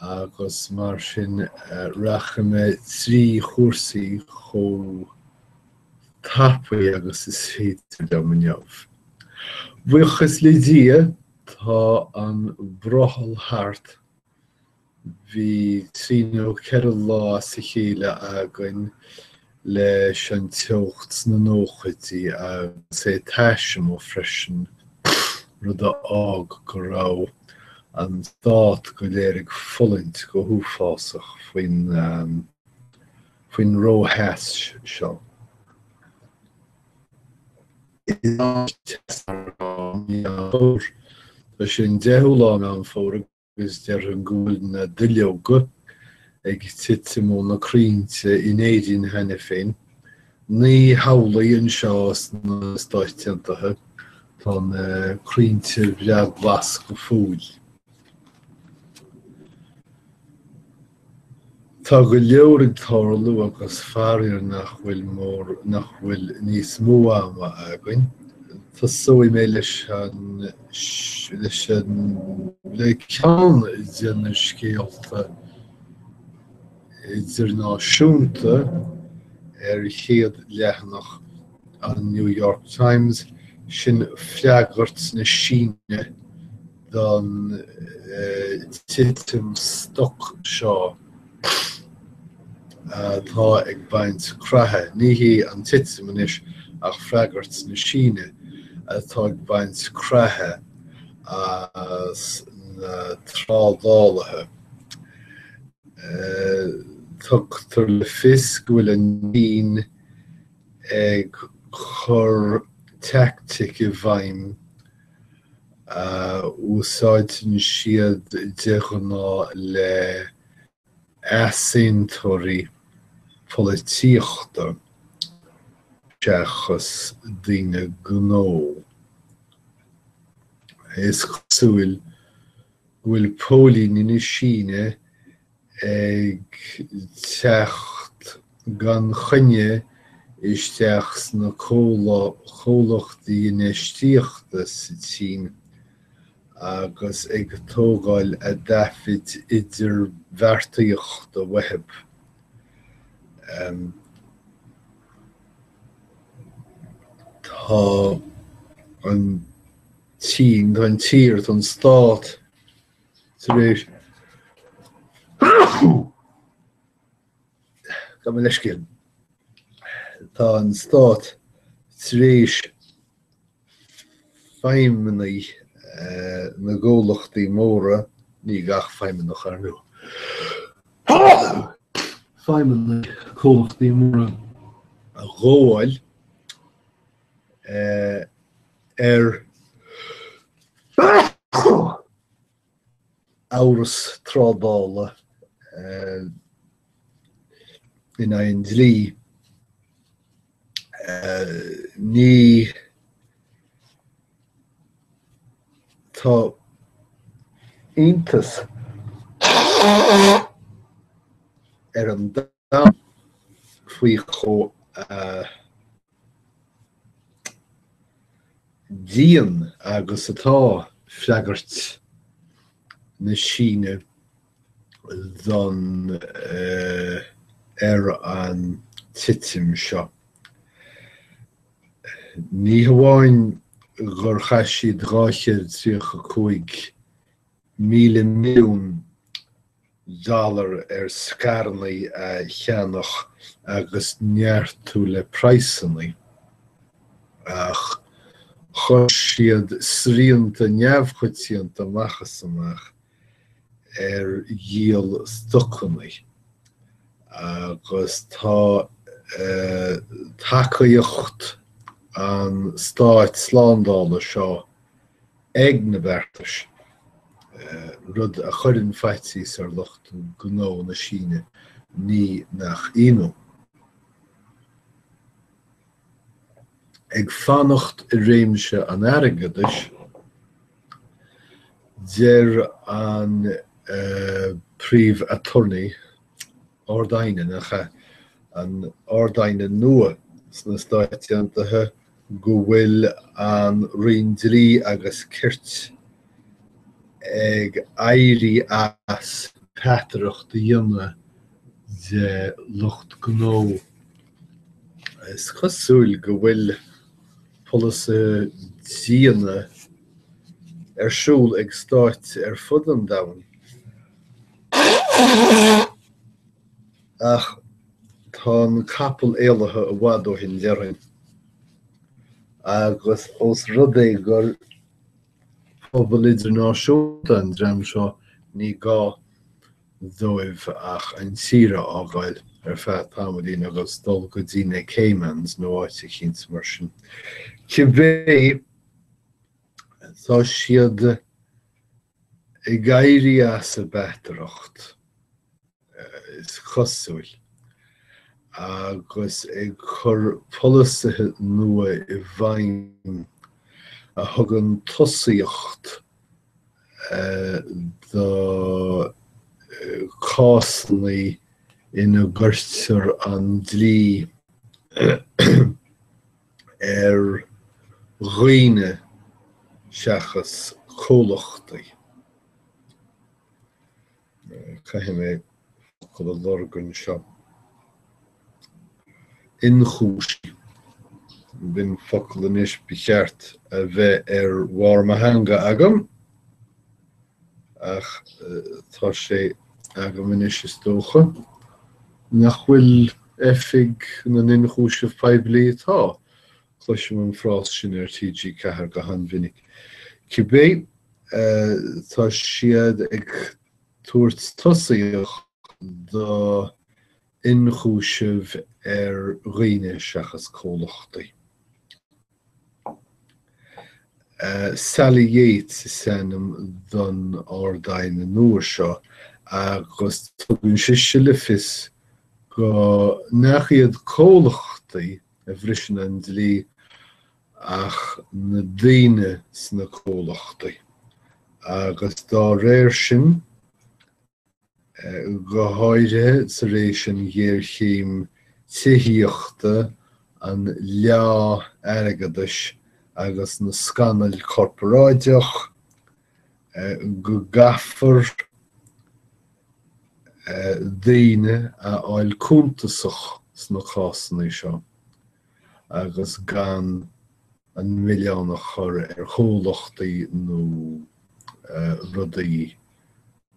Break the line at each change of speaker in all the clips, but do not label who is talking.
agus mar sin rachaidh mé trí chúrsaí chomh tapaidh agus is féidir liom inniu. Buíochas le Dia, tá an brothall thart, bhí trí nó ceithre lá as a chéile againn leis an teocht sna nóchaidí agus é tais amuigh freisin, rud a d'fhág go raibh an stát go léir ag fulaingt go huafásach faoin, faoin ró-theas seo. Tá sé an 10ú lá Meán Fómhair. agus déarfainn go bhfuil na duilleoga ag titim ó na crainnte in Éirinn cheana féin. Ní hamhlaidh anseo sna Stáit Aontaithe, tá na crainnte breá glas go fóill. Tá go leor ag tarlú agus faraor nach bhfuil níos mó ama againn. Tosóidh mé leis an, le ceann de na scéalta idirnáisiúnta ar chéad leathanach an New York Times, sin freagairt na Síne don titim stoc seo atá ag baint creathadh. Ní hí an titim anois ach freagairt na Síne atá ag baint creathadh as na trádálaithe. Tugtar le fios go bhfuil an tSín ag cur teaictic i bhfeidhm a úsáideann siad de ghnáth le easaontóirí polaitíochta seachas daoine gnó. Is cosúil go bhfuil póilíní na Síne ag teacht gan choinne isteach sna co comhlachtaí infheistíochta sa tSín agus ag tógáil a dtaifid idirbheartaíochta uathub. Tá an tSín, tá an tír, tá an stát tar éis gabh mo leithscéal. Tá an Stát tar éis feidhmeannaigh na gcomhlachtaí móra, ní gach feidhmeannach ar ndóigh, feidhmeannaigh comhlachtaí móra a ghabháil, ar amhras trádála eh, in aghaidh an dlí. Eh, ní, tá iontas orm faoi chomh dian agus atá freagairt na Síne don, ar an titim seo. Ní hamháin gur chaith siad 235 1,000 milliún dollar ar scaireannaí a cheannach agus neartú le praghsannaí, ach chuir siad srianta neamhchoitianta amach is amach ar dhíol stocannaí agus tá tacaíocht an stát slándála seo ag na beartais, rud a chuireann faitíos ar lucht gnó na Síne, ní nach ionadh. Ag fanacht i réimse an airgeadais, deir an príomh attorney, Ard-Aighne, nach ea? an Ard-Aighne nua sna Stáit Aontaithe go bhfuil an Roinn Dlí agus Cirt ag éirí as peataireacht a dhéanamh de lucht gnó. Is cosúil go bhfuil polasaithe diana ar siúl ag stáit ar fud an domhain. Ach tá an capall éalaithe i bhfad ó shin, déarfainn, agus ós rud é gur pobal idirnáisiúnta an dream seo ní gá dóibh ach an tír a fhágáil ar feadh tamaillín agus dul go dtí na Caymans nó áit eicínt mar sin. Cibé, tá siad. Ag éirí as a bpeataireacht, is cosúil, agus ag cur polasaithe nua i bhfeidhm a thugann tosaíocht do chásanna ina gcuirtear an dlí ar dhaoine seachas comhlachtaí. Caithfidh mé focal a lorg anseo. Inchúisí. B'in focal anois ba cheart a bheith ar bharr mo theanga agam. ach tá sé agam anois is dócha, nach bhfuil Oifig na nIonchúiseamh Poiblí atá, cloisim an frás sin ar TG4 go han-mhinic. Cibé, tá siad ag tabhairt tosaíocht do ionchúisimh ar dhaoine seachas comhlachtaí. Sally Yates is ainm don Ard-Aighne nua seo agus tugann sise le fios go nach iad comhlachtaí a bhriseann an dlí ach na daoine sna comhlachtaí agus dá réir sin, go háirithe tar éis an ghéarchéim tithíochta, an leá airgeadais agus na scannail corparáideach, go gcaithfear daoine a fháil cuntasach sna cásanna seo agus gan an milleán a chur ar chomhlachtaí nó rudaí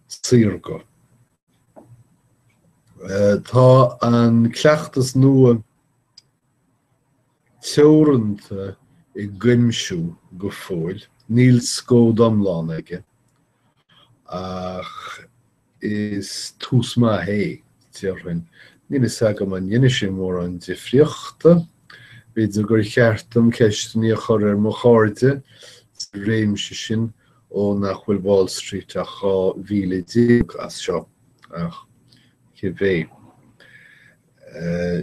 saorga. Tá an cleachtas nua teoranta i gcuimsiú go fóill, níl scód iomlán aige, ach Is tús maith é, déarfainn. Níl fhios agam an ndéanfaidh sé mórán difríochta. B'fhéidir gur cheart dom ceisteannaí a chur ar mo chairde sa réimse sin ó nach bhfuil Wall Street ach 12 mhíle as seo, ach cibé.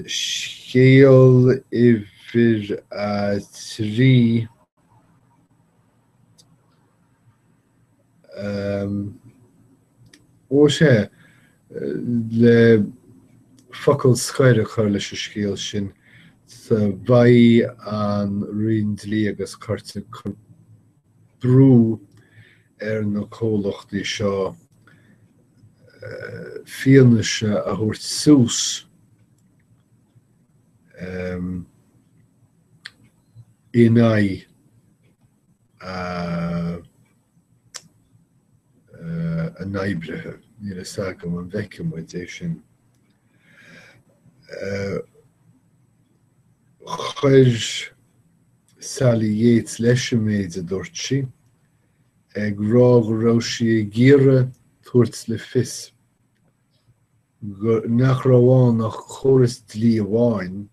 Scéal uimhir a trí. Ó sea, le focal scoir a chur leis an scéal sin, beidh an Roinn Dlí agus Cirt ag cur brú ar na comhlachtaí seo fianaise a thabhairt suas in aghaidh, a n-oibrithe. Níl a fhios agam an bhfeicfidh muid é sin. Chuir Sally Yates leis an méid a dúirt sí, ag rá go raibh sí ag iarraidh tabhairt le fios nach raibh ann ach córas dlí amháin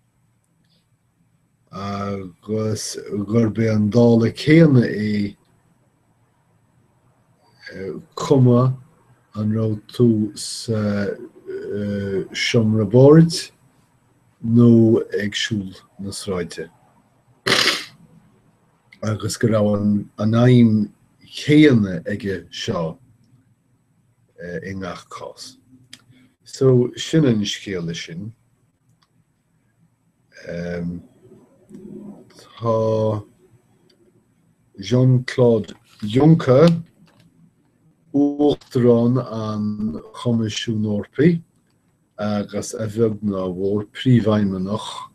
agus gurb é an dála céanna é cuma an raibh tú sa seomra boird nó ag siúl na sráide. agus go raibh an aidhm chéanna aige seo i ngach cás. So, sin an scéal leis sin. Tá Jean-Claude Juncker, Uachtarán an Choimisiúin Eorpaigh, agus a bheag ná a mhór, Príomhfheidhmeannach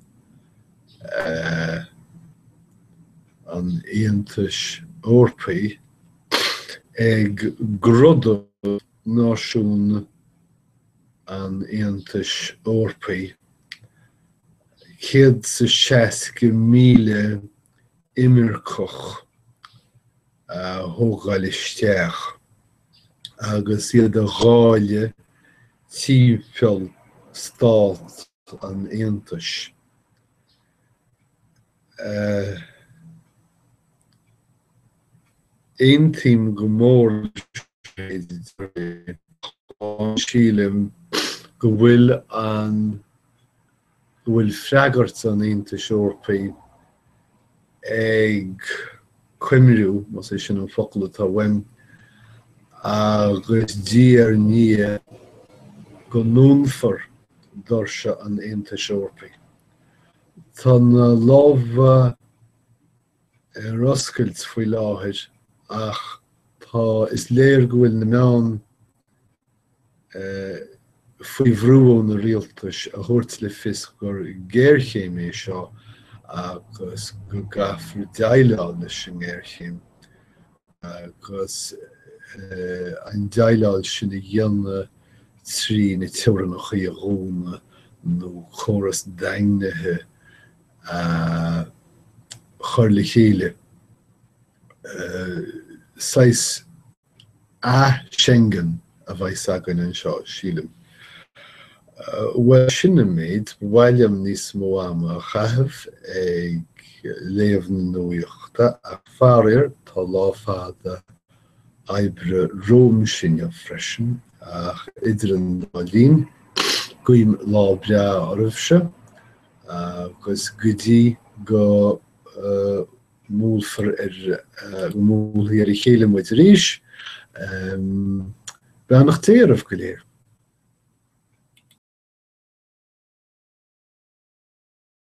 an Aontais Eorpaigh, ag gríosú náisiúin an Aontais Eorpaigh, 160,000 imirceach a thógáil isteach agus iad a dháileadh timpeall Stát an Aontais a. Aontaím go mór. Sílim go bhfuil an go bhfuil freagairt an Aontais Eorpaigh ag coimriú, más é sin an focal atá uaim, agus diaidh ar ndiaidh go ndúnfar doirse an Aontais Eorpaigh. Tá na lámha ar oscailt faoi láthair ach tá is léir go bhfuil na meáin faoi bhrú ó na rialtais a thabhairt le fios gur géarchéim é seo agus go gcaithfear déileáil leis an ngéarchéim agus an déileáil sin a dhéanamh trí na teorainneacha a dhúnadh nó córas daingnithe a chur le chéile, saghas 'Ath-Schengen' a bheas againn anseo, sílim. Bhuel, sin an méid, ba mhaith liom níos mó ama a chaitheamh ag léamh na nuachta ach faraor tá lá fada oibre romham inniu freisin ach idir an dá linn, guím lá breá oraibhse agus go dtí go. mbuailfear mbuailfear ar a chéile muid arís. Beannacht Dé oraibh go léir.